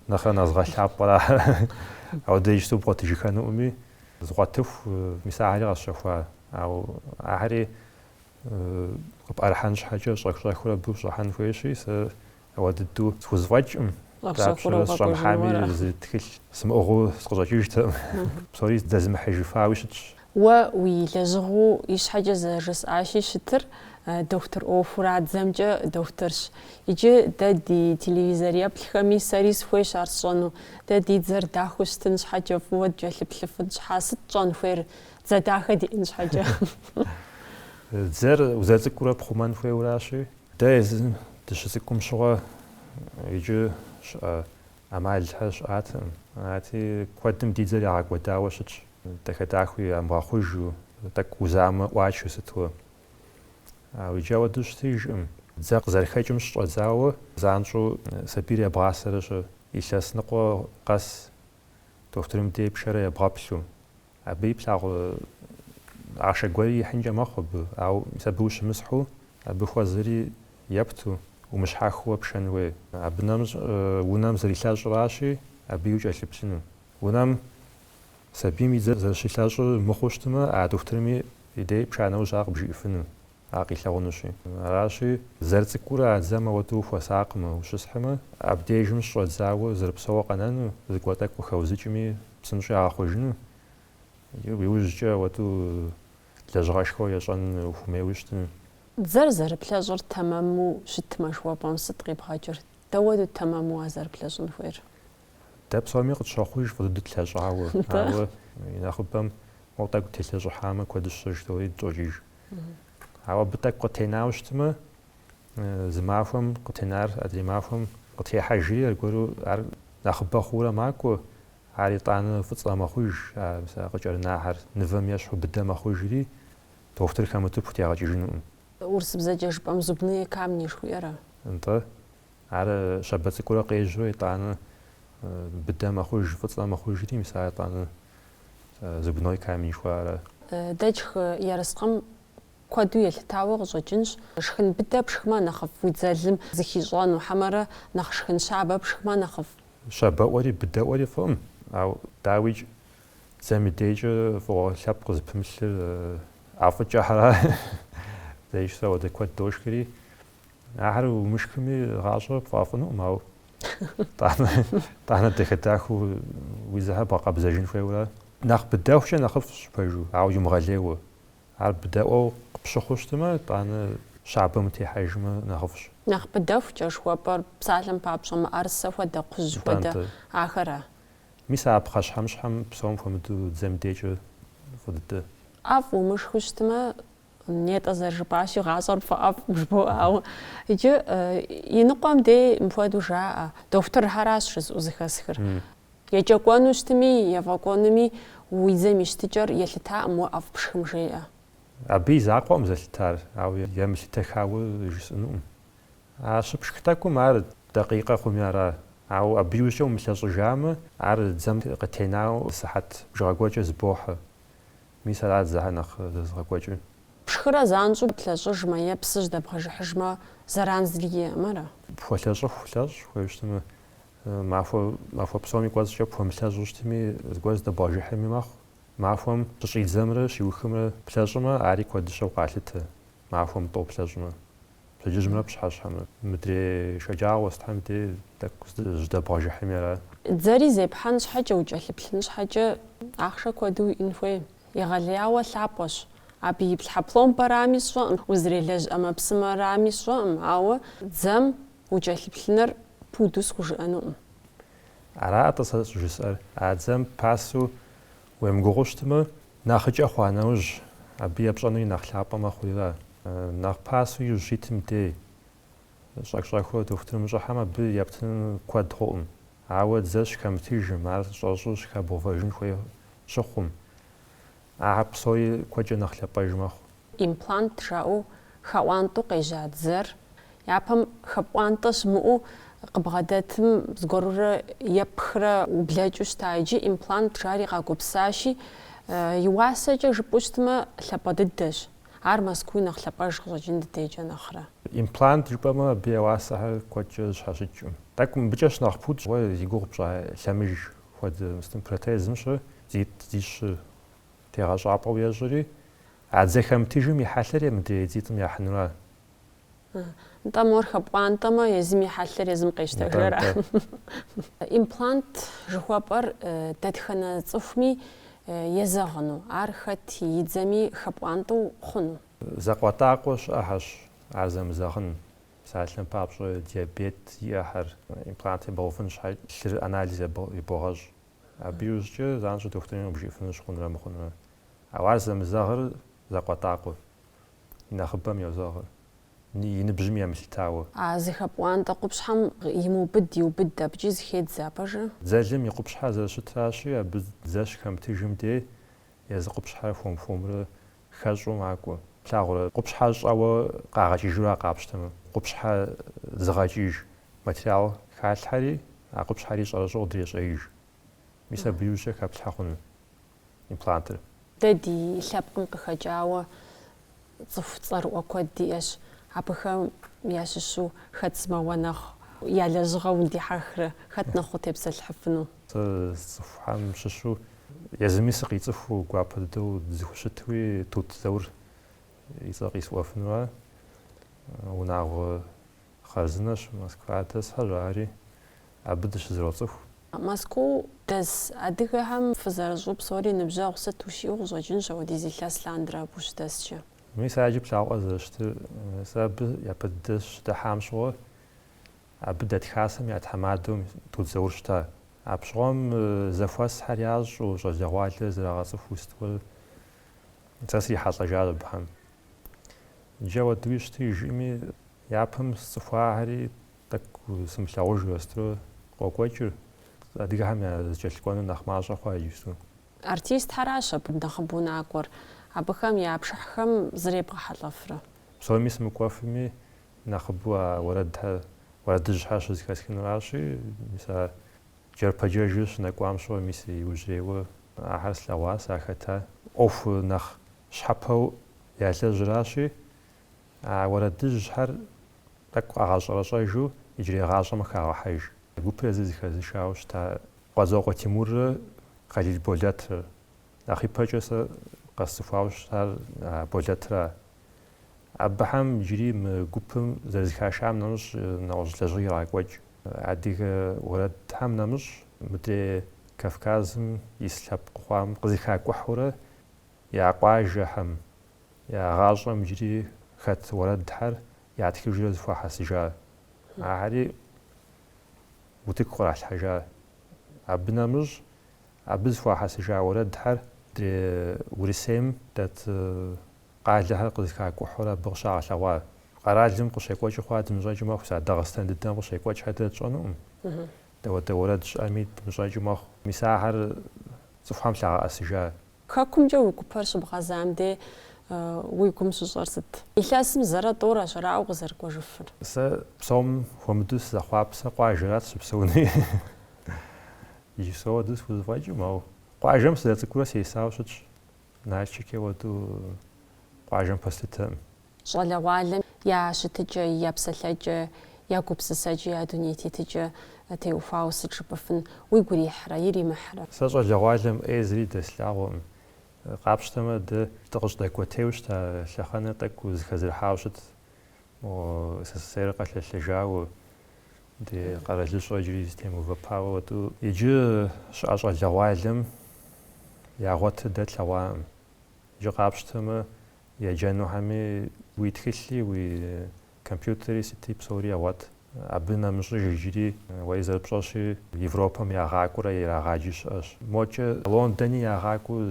нэхърэ нэхъ згъэлъапӏэр. Ахэр ауэдэ иджыпсту бгъуэтыжыххэнуӏыми, згъуэтыху, мис ахьэри къэсщэхуа. Ауэ ахьэри къыпӏэрыхьэн щхьэкӏэ щӏэх-щӏэхыурэ абы ущӏыхьэн хуейщи, сэ ауэ дыдэу схузэфӏэкӏкъым. Дапщэрэ сыщӏэмыхьами, зы тхылъ сымыӏыгъыу сыкъыщӏэкӏыжтэкъым. Псори здэзымыхьыжыфауи щытщ. Уэ уи лэжьыгъэу ищхьэкӏэ зэрыжысӏащи, щытыр дохутыр ӏуэхура, дзэмкӏэ дохутырщ. Иджы дэ ди телевизор еплъхэми, сэри сыхуейщ ар сщӏэну. Дэ ди дзэр дахэу щытын щхьэкӏэ, фӏыуэ дыкӏэлъыплъыфын щхьэ, сыт тщӏэн хуейр дзэ дахэ диӏэн щхьэкӏэ? Дзэр узэцӏыкӏуурэ пхъумэн хуейуэращи. Дэ дыщыцӏыкӏум щыгъуэ иджы щыӏэ ӏэмалхэр щыӏатэкъым. Арати, куэдым ди дзэр ягъэкӏуэдауэ щытщ, дахэ-дахэу ямыгъэхъужу, тӏэкӏу узамэ ӏуачэу сыту. Ауэ иджы ауэдэу щытыжкъым. Дзэр къызэрыхэкӏым щыщӏэдзауэ, занщӏэу сабийр ебгъасэрэ щыр. Илъэс ныкъуэ къэс дохутырым дей пшэрэ ебгъэплъу. Абы и плъагъу ахъшэ гуэри ихьынкӏэ мэхъу абы, ауэ мис абы ущымысхьу, абы хуэзэри епту, умыщхьэхыуэ пшэн хуей. Абы нэмыщӏ унэм зэрилъэщӏыращи, абыи укӏэлъыплъыну. Унэм сабийм и дзэр зэрыщилъэщӏыр мыхъуу щытмэ, а дохутырми и дей пша нэужь ар къыбжиӏэфыну. Ар къилъэгъунущи. Аращи, зэрыцӏыкӏурэ а дзэм ауэдэу ухуэсакъмэ, ущысхьмэ, абдежым щыщӏэдзауэ зэрыпсэууэ къэнэну, зыгуэр тӏэкӏу къыхэузыкӏми, псынщӏэуи ягъэхъужыну, иужькӏэ ауэдэу лэжьыгъэшхуэу ещӏэн ухуэмейуэ щытыну. Дзэр зэрыплъэщӏыр тэмэму щытмэ, жыхуэпӏэм сыт къибгъэкӏыр? Дауэдэу тэмэму ар зэрыплъэщӏын хуейр? Дэ псоми къытщохъуж фӏы дыдэу тлъэщӏауэ, ауэ и нэхъыбэм уэ тӏэкӏу телъэщӏыхьамэ куэдщ жыдоӏэри дыщӏокӏыж. Ауэ абы тӏэкӏу къытенауэ щытмэ, зы махуэм къытенар адрей махуэм къытехьэжри, аргуэру ар нэхъыбэ хъуурэ макӏуэ, ар итӏанэ фӏыцӏэ мэхъуж, а къыкӏэрынахьэр нывэм ещхьу быдэ мэхъужри, дохутыр хэмыту пхутегъэкӏыжынукъым. Урысыбзэкӏэ жыпӏэм зубные камни жыхуиӏэра? Нтӏэ. Ар щабэ цӏыкӏурэ къежьэу етӏанэ быдэ мэхъуж, фӏыцӏэ мэхъужри, мис ар етӏанэ зубной камень жыхуаӏэра. Дэ тшхы ерыскъым куэду елъытауэ къыщӏэкӏынщ. Шхын быдэ пшхмэ нэхъыфӏ уи дзэлым зыхищӏэну, хьэмэрэ нэхъ шхын щабэ пшхмэ нэхъыфӏ? Щабэӏуэри быдэӏуэри фӏыӏым, ауэ дауикӏ дзэм и дейкӏэ фӏыгъуэ лъэпкъ зыпымылъыр ӏэфӏыкӏэхьэра, зэищ сэ ауэдэ куэд дошхри. Ахэр умышхми гъащӏэ пфӏэӏэфӏынукъым, ауэ тӏанэ дахэ дахэу уи дзэхэр бгъэкъэбзэжын хуейуэ ара. Нэхъ быдэхукӏэ нэхъыфӏщ пэжу, ауэ иумыгъэлейуэ. Ар быдэӏуэу къыпщыхъуу щытмэ, тӏанэ щабэм утехьэжмэ нэхъыфӏщ. Нэхъ быдэхукӏэ жыхуэпӏэр псалъэм папщӏэ мыӏэрысэ хуэдэ, кхъужь хуэдэ ахэра? Мис а пхъэщхьэмыщхьэм псом хуэмыдэу дзэм и декӏэ фӏы дыдэ. ӏэфӏ умышхыу щытмэ, Нетӏэ зэрыжыпӏащи, гъащӏэр пфӏэӏэфӏкъым жыбоӏэ, ауэ иджы иныкъуэм дей мыпхуэдэу жаӏэ, дохутырхэращ жызыӏэу зыхэсхыр. Екӏэкӏуэну щытми, ефӏэкӏуэнуми уи дзэм и щытыкӏэр елъытакъым уэ ӏэфӏ пшхым жеӏэ. Абы и закъуэкъым зэлъытар, ауэ емылъытэхауэ жысӏэнукъым. А щыпшх тӏэкӏум ар дакъикъэ хъуми ара, ауэ абы иужькӏэ умылъэщӏыжамэ, ар дзэм къытенауэ сыхьэт бжыгъэ гуэркӏэ зыбохьэ. Мис арат дзэхьэр нэхъ зэзыгъэкӏуэкӏыр. Пшхырэ занщӏэу плъэщӏыжмэ е псы жьдэбгъэжыхьыжмэ зэран зыри иӏэкъым, ара? Пхуэлъэщӏыху лъэщӏ хуейуэ щытмэ, ауэ махуэ псоми кӏуэцӏкӏэ пхуэмылъэщӏу щытми, зыгуэр жьдэбгъэжыхьми мэхъу. Махуэм щыщӏидзэмрэ щиухымрэ плъэщӏымэ, ари куэдыщэу къалъытэ, махуэм тӏоу плъэщӏмэ. Пщэдджыжьымрэ пщыхьэщхьэмрэ. Мыдрей шэджагъуэ сытхьэм дей тӏэкӏу жьдэбгъэжыхьми ара. Дзэри зепхьэн щхьэкӏэ, укӏэлъыплъын щхьэкӏэ ахъшэ куэду уиӏэн хуей. Егъэлеяуэ лъапӏэщ. Абы иплъхьэ пломбэрами сщӏэкъым, узэрелэжь ӏэмэпсымэрами сщӏэкъым, ауэ дзэм укӏэлъыплъыныр пуду схужыӏэнукъым. Арат-тӏэ сэ щӏыжысӏэр, а дзэм пасэу Уемыгугъыу щытмэ, нэхъыкӏэ хъуа нэужь, абы епщӏэнури нэхъ лъапӏэ мэхъурира? Нэхъ пасэу иужь щитым дей, щӏэх-щӏэхыу дохутырым ущӏыхьэм абы ептынур куэд хъукъым. Ауэ дзэ щыхэмытыжым, ар щӏэщӏу щыхэбгъувэжын хуей щыхъум, ахэр псори куэдкӏэ нэхъ лъапӏэж мэхъу. Имплант жаӏэу хэӏуантӏэу къежьа дзэр япэм хэпӏуантӏэ щымыӏэу къыбгъэдэтым зыгуэрурэ епхрэ ублэкӏыу щыта иджы имплант жари къагупсащи, и уасэкӏэ жыпӏэу щытмэ лъапӏэ дыдэщ. Ар Мэзкууи нэхъ лъапӏэж къыщӏэкӏын ди декӏэ нэхърэ. Имплант жыпӏэмэ абы я уасэхэр куэдкӏэ зэщхьэщыкӏкъым. Тӏэкӏу мыбыкӏэ щынэхъ пудщ, уэ зи гугъу пщӏа лъэмыж хуэдэ мостым протезым щы дзитӏ дзищы. тегъэщӏапӏэу ещӏри, а дзэ хэмытыжым и хьэлъэр е мыдрей дзитӏым яхьынура? Нтӏэ, мор хэпӏуантӏэмэ, езым и хьэлъэр езым къещтэжэра? Имплант жыхуэпӏэр дэтхэнэ цӏыхуми езэгъыну, ар хэт и дзэми хэпӏуантӏэу хъуну? Закъуэтӏакъуэ щыӏэхьэщ ар зэмызэгъын, псалъэм папщӏэ диабет зиӏэхьэр имплант ебгъэувын щхьэ лъыр анализ ебогъэщӏ. Абы иужькӏэ занщӏэу дохутырым къыбжиӏэфынущ хъунрэ мыхъунрэ. Ауэ ар зэмызэгъыр закъуэтӏакъуэу, и нэхъыбэм йозэгъыр, и ныбжьым емылъытауэ. А зыхэпӏуантӏэ къупщхьэм имыубыд иубыд абыкӏи зыхедзэ а пэжыр? Дзэлым и къупщхьэр зэрыщытращи, абы дзэ щыхэмытыжым дей езы къупщхьэр хуэм-хуэмурэ хэщӏу макӏуэ. Плъагъурэ, къупщхьэ щӏэуэ къагъэкӏыжу ар къапщтэмэ, къупщхьэ зыгъэкӏыж материал халъхьэри, а къупщхьэри щӏэрыщӏэу дрещӏеиж. Мис абы иужькӏэ хэплъхьэ хъуну имплантыр. Дэ ди лъэпкъым къыхэкӏауэ цӏыху цӏэрыӏуэ куэд диӏэщ. Абыхэм ящыщу хэт сымэуэ нэхъ я лэжьыгъэу удихьэхрэ, хэт нэхъ утепсэлъыхьыфыну? Сэ сцӏыхухьэм щыщу Езыми сыкъицӏыхуу, гуапэ дыдэу дызэхущытуи, Тут Заур и цӏэ къисӏуэфынура? Унагъуэ хъарзынэщ, Москва дэсхьэщ ари, абы дыщызэроцӏыху. Мэзкуу дэс адыгэхэм фызэрыщӏу псори ныбжьэгъу сыт ущиӏэу къыщӏэкӏынщ апхуэдиз илъэс лъандэрэ абы ущыдэскӏэ. Мис ар иджы плъагъуӏэ зэрыщытыр, сэ абы япэ дыдэ сыщыдыхьам щыгъуэ, Абы дэт Хасэм я тхьэмадэу Тут Заур щыта. Апщыгъуэм зэхуэсхьэр ящӏу, щӏалэгъуалэр зэрагъэцӏыхуу сытуэ сэ срихьэлӏэжа абыхэм. Иджы апхуэдэуи щытыжкъыми, япэм сцӏыхуахэри тӏэкӏу сымылъагъужурэ сытурэ къокӏуэкӏыр, адыгэхэм я зэкӏэлъыкӏуэныр нэхъ мащӏэ хъуа иджыпсту. Артистхэращ абы нэхъыбэу накӏуэр, абыхэм я пшыхьхэм зребгъэхьэлӏэфрэ. Псоми сымыкӏуэфми, Нэхъыбэу а уэрэдхэр уэрэдыжьхэр щызыхэсхынуращи, мис а джэрпэджэжыр щынэкӏуам щыгъуэ мис иужьрейуэ ахэр слъэгъуащ, ар хэта? ӏуэху нэхъ щхьэпэу ялэжьыращи, а уэрэдыжьхэр тӏэкӏу къагъэщӏэрэщӏэжу иджырей гъащӏэм хагъэхьэж. Гупыр езыр зыхэзышауэ щыта Къуэдзокъуэ Тимуррэ Хъалил Болэтрэ. Нэхъ ипэкӏэ сэ къэсцӏыхуауэ щытар Болэтра. Абыхэм иджыри мы гупым зэрызыхашам нэмыщӏ нэгъуэщӏ лэжьыгъэ ирагъэкӏуэкӏ. Адыгэ уэрэдхэм нэмыщӏ мыдрей Кавказым ис лъэпкъыу хъуам къызыхакӏухьурэ я къуажэхэм, я гъащӏэм иджыри хэт уэрэдхэр ятхыжрэ зыхуахьэсыжа. Ахэри утыку къралъхьэжа. Абы нэмыщӏ Абы зыхуахьэсыжа уэрэдхэр ди Урысейм дэт къалэхэр къызыхакӏухьурэ абы къыщагъэлъэгъуа. Къэралым къыщекӏуэкӏыу хъуар дымыщӏэкӏыу мэхъу, мис а Дагъыстэн дыдэм къыщекӏуэкӏхэр дэ тщӏэнукъым. Дауэдэ уэрэд щыӏэми дымыщӏэкӏыу мэхъу. Мис ахэр цӏыхухэм лъагъэӏэсыжа. Хэкумкӏэ уи гупэр щыбгъэзам де уи гум щыщӏэр сыт? Илъэсым зэрэ тӏурэ щэрауэ къызэрыкӏуэжыфыр. Сэ псом хуэмыдэу сызэхъуапсэ къуажэрат сыщыпсэуну. Иджыпсту уэдэу схузэфӏэкӏым, ауэ къуажэм сызэрыцӏыкӏурэ сесауэ щытщ. Налшыки уэдэу къуажэм пэслъытэкъым. Щӏалэгъуалэм я щытыкӏэ, я псэлъэкӏэ, я гупсысэкӏэ, я дуней тетыкӏэ теухуауэ сыт жыпӏэфын? Уигу ирихьрэ, иримыхьрэ? Сэ щӏалэгъуалэм ӏей зыри дэслъагъуэкъым. Къапщтэмэ, дэ дыкъыщыдэкӏуэтейуэ щыта лъэхъэнэр тӏэкӏу зыхэзэрыхьауэ щытт. Мо СССР-ыр къэлъэлъэжауэ. Ди къэралыщӏэ иджыри зытемыувэпауэ уэдэу. Иджы щыӏэ щӏалэгъуалэм ягъуэтыр дэ тлъэгъуакъым. Иджы къапщтэмэ, еджэнухэми уи тхылъи, уи компьютери сыти псори ягъуэт. Абы нэмыщӏыж иджыри уэри зэрыпщӏэщи, Европэм ягъакӏуэрэ ирагъаджи щыӏэщ. Мокӏэ Лондони ягъакӏуэу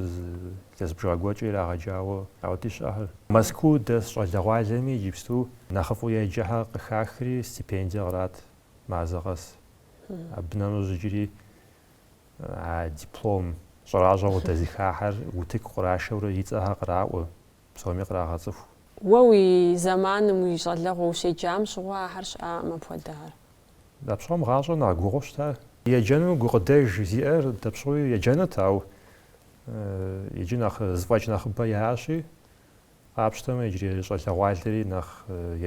илъэс бжыгъэ гуэркӏэ ирагъэджауэ ауэди щыӏэхэр. Мэзкуу дэс щӏалэгъуалэми иджыпсту Нэхъыфӏу еджэхэр къыхахри стипендие кърат мазэ къэс. Абы нэмыщӏ иджыри а диплом щӏэращӏэу къыдэзыхахэр утыку кърашэурэ и цӏэхэр къраӏуэ, псоми кърагъэцӏыху. Уэ уи зэманым уи щӏалэгъуэ ущеджам щыгъуэ ахэр щыӏакъым апхуэдэхэр. Дапщыгъуэм гъащӏэр нэхъ гугъу щыта? Еджэну гукъыдэж зиӏэр дапщыгъуи еджэнут, ауэ иджы нэхъ зыфӏэкӏ нэхъыбэ яӏэщи, Къапщтэмэ, иджырей щӏалэгъуалэри нэхъ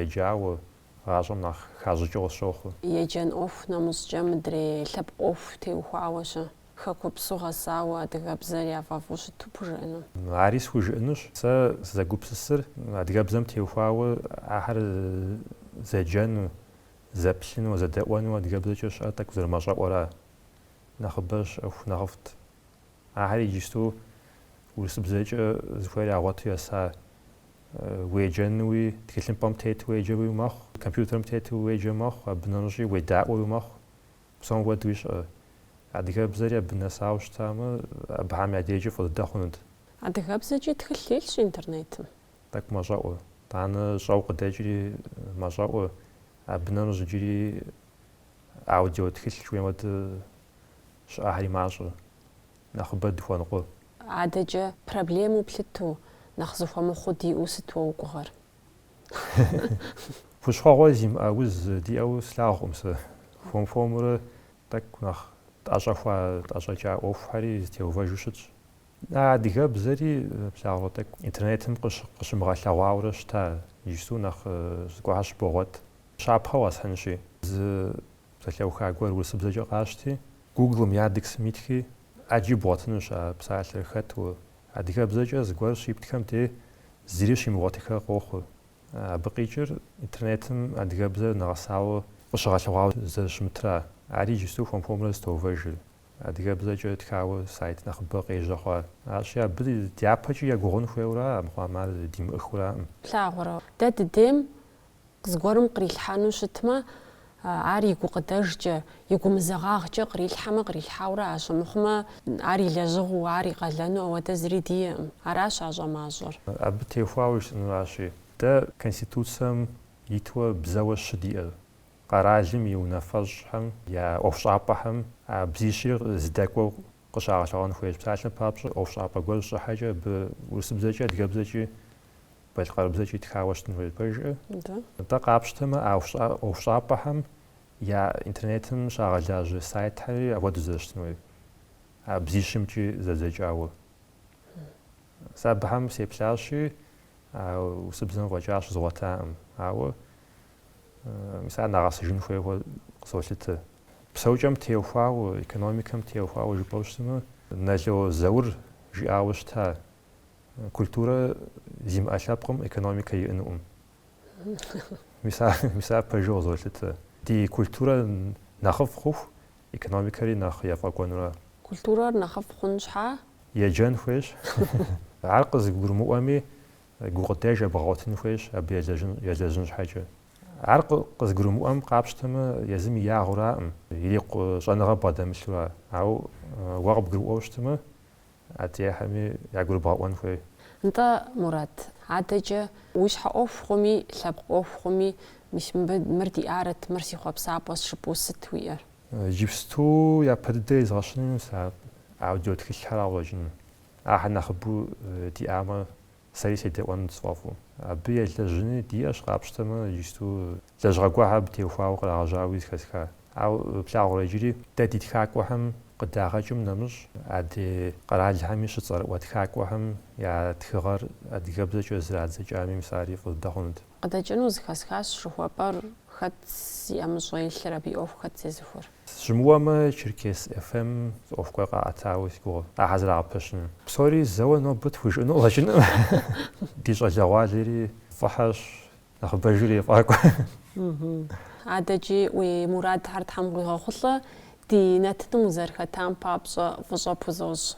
еджауэ, гъащӏэм нэхъ хащӏыкӏыу къысщохъу. Еджэн ӏуэху нэмыщӏкӏэ мыдрей лъэпкъ ӏуэху теухуауэ-щэ? Хэкупсу гъэсауэ адыгэбзэр яфӏэфӏу щыту пхужыӏэну? Ари схужыӏэнущ. Сэ сызэгупсысыр адыгэбзэм теухуауэ ахэр зэджэну, зэплъыну, зэдэӏуэну адыгэбзэкӏэ щыӏэ тӏэкӏу зэрымэщӏэӏуэра. Нэхъыбэ щыӏэху нэхъыфӏт. Ахэр иджысту урысыбзэкӏэ зыхуейр ягъуэту еса. Уеджэнуи, тхылъымпӏэм тету уеджэуи мэхъу, компьютерым тету уеджэ мэхъу, абы нэмыщӏи уедаӏуэуи мэхъу. Псом хуэдэуи щыӏэ. Адыгэбзэри абы нэсауэ щытамэ, абыхэм я дежкӏи фӏы дыдэ хъунут. Адыгэбзэкӏи тхылъ илъщ интернетым. Тӏэкӏу мэщӏэӏуэ. Итӏанэ щӏэу къыдэкӏри мэщӏэӏуэ. Абы нэмыщӏ иджыри. Аудио тхылъ жыхуейм хуэдэу щыӏэхэри мащӏэ, нэхъыбэ дыхуэныкъуэ. Адэкӏэ проблему плъыту, нэхъ зыхуэмыхъуу диӏэу сыт уэ уи гугъэр? Хущхъуэгъуэ зимыӏэ уз диӏэу слъагъукъым сэ. Хуэм-хуэмурэ тӏэкӏу нэхъ тӏэщӏэхуа, тӏэщӏэкӏа ӏуэхухэри зытеувэжу щытщ. А адыгэбзэри плъагъурэ тӏэкӏу интернетым къыщымыгъэлъэгъуаурэ щыта, иджыпсту нэхъ зыгуэрхэр щыбогъуэт. Щапхъэу къэсхьынщи. Зы псалъэуха гуэр урысыбзэкӏэ къащти, гуглым, яндексым итхи, ӏэджи бгъуэтынущ а псалъэр хэту. Адыгэбзэкӏэ зыгуэр щиптхэм де зыри щимыгъуэтыххэ къохъу. Абы къикӏыр интернетым адыгэбзэр нэгъэсауэ къыщыгъэлъэгъуауэ зэрыщымытра, ари иджыпсту хуэм-хуэмурэ зытоувэжыр. Адыгэбзэкӏэ тхауэ сайт нэхъыбэ къежьэ хъуа. Арщи, абы дяпэкӏи егугъун хуейуэра, мыхъуам ар димыӏэххэураӏым. Плъагъурэ, дэ дыдейм зыгуэрым кърилъхьэну щытмэ, ар и гукъыдэжкӏэ, и гумызэгъагъкӏэ кърилъхьэмэ кърилъхьаурэ аращ, мыхъумэ ар и лэжьыгъэу, ар и къалэну ауэдэ зыри диеӏым. Аращ а щӏэмащӏэр. Абы теухуауэ жысӏэнуращи, дэ Конституцэм итуэ бзэуэ щы диӏэр, къэралым и унафэщӏхэм я ӏуэхущӏапӏэхэм а бзищри зэдэкӏуэу къыщагъэлъэгъуэн хуейщ. Псалъэм папщӏэ, ӏуэхущӏапӏэ гуэр щӏыхьэкӏэ абы урысыбзэкӏи, адыгэбзэкӏи, балъкъэрыбзэкӏи тхауэ щытын хуейщ. Пэжкӏэ нтӏэ къапщтэмэ, а ӏуэхущӏапӏэхэм я интернетым щагъэлажьэ сайтхьэри апхуэдэу зэрыщытын хуейр, а бзищымкӏи зэдзэкӏауэ. Сэ абыхэм сеплъащи, урысыбзэм фӏэкӏа щызгъуэтакъым. Ауэ Мис ар нэгъэсыжын хуейуэ къызолъытэ. Псэукӏэм теухуауэ, экономикэм теухуауэ жыпӏэу щытмэ, Нало Заур жиӏауэ щыта, культурэ зимыӏэ лъэпкъым экономикэ иӏэнукъым. Мис ар пэжу къызолъытэ. Ди культурэ нэхъыфӏ хъуху, экономикэри нэхъ ефӏэкӏуэнура. Культурэр нэхъыфӏ хъун щхьа еджэн хуейщ. Ар къызыгурымыӏуэми, Гукъыдэж абгъэгъуэтын хуейщ абы елэжьын щхьэкӏэ. Ар къызыгурымыӏуэм къапщтэмэ, езым и ягъэу аракъым, ирикъу щӏэныгъэ бгъэдэмылъу ара. Ауэ уэ къыбгурыӏуэу щытмэ, адрейхэми ягурыбгъэӏуэн хуей. Нтӏэ, Мурат, адэкӏэ уи щхьэ ӏуэху хъуми, лъэпкъ ӏуэху хъуми, мис мыр диӏарэт, мыр си хъуэпсапӏэщ жыпӏэу сыт уиӏэр? Иджыпсту япэ дыдэ изгъэщыну мис а аудиотхылъхэр къыкъуэкӏыну. Ахэр нэхъыбэу диӏамэ, сэри седэӏуэнут сфӏэфӏу. Абы елэжьыни диӏэщ къапщтэмэ, иджыпсту лэжьыгъэ гуэрхэр абы теухуауэ кърагъэжьауи зэхэсха. Ауэ плъагъурэ иджыри, дэ ди тхакӏуэхэм къыдагъэкӏым нэмыщӏ, адрей къэралхэми щыцӏэрыӏуэ тхакӏуэхэм я тхыгъэр адыгэбзэкӏэ зэрадзэкӏами мис ари фӏы дыдэ хъунут. Къыдэкӏыну зэхэсхащ жыхуэпӏэр, хэт зи ӏэмыщӏэ илъыр, абы и ӏуэху хэт зезыхуэр. Сыщымыуэмэ, Черкес FM зы ӏуэху гуэр къаӏэтауэ си гугъэ, ахэр зэрагъэпэщыну. Псори зэуэ нобэ тхужыӏэну къыщӏэкӏынкъым. Ди щӏалэгъуалэри фӏыхьэщ, нэхъыбэж ирефӏакӏуэ. Адэкӏи уи мурадхэр Тхьэм къуигъэхъулӏэ, ди нэтыным узэрыхэтам папщӏэ фӏыщӏэ пхузощӏ.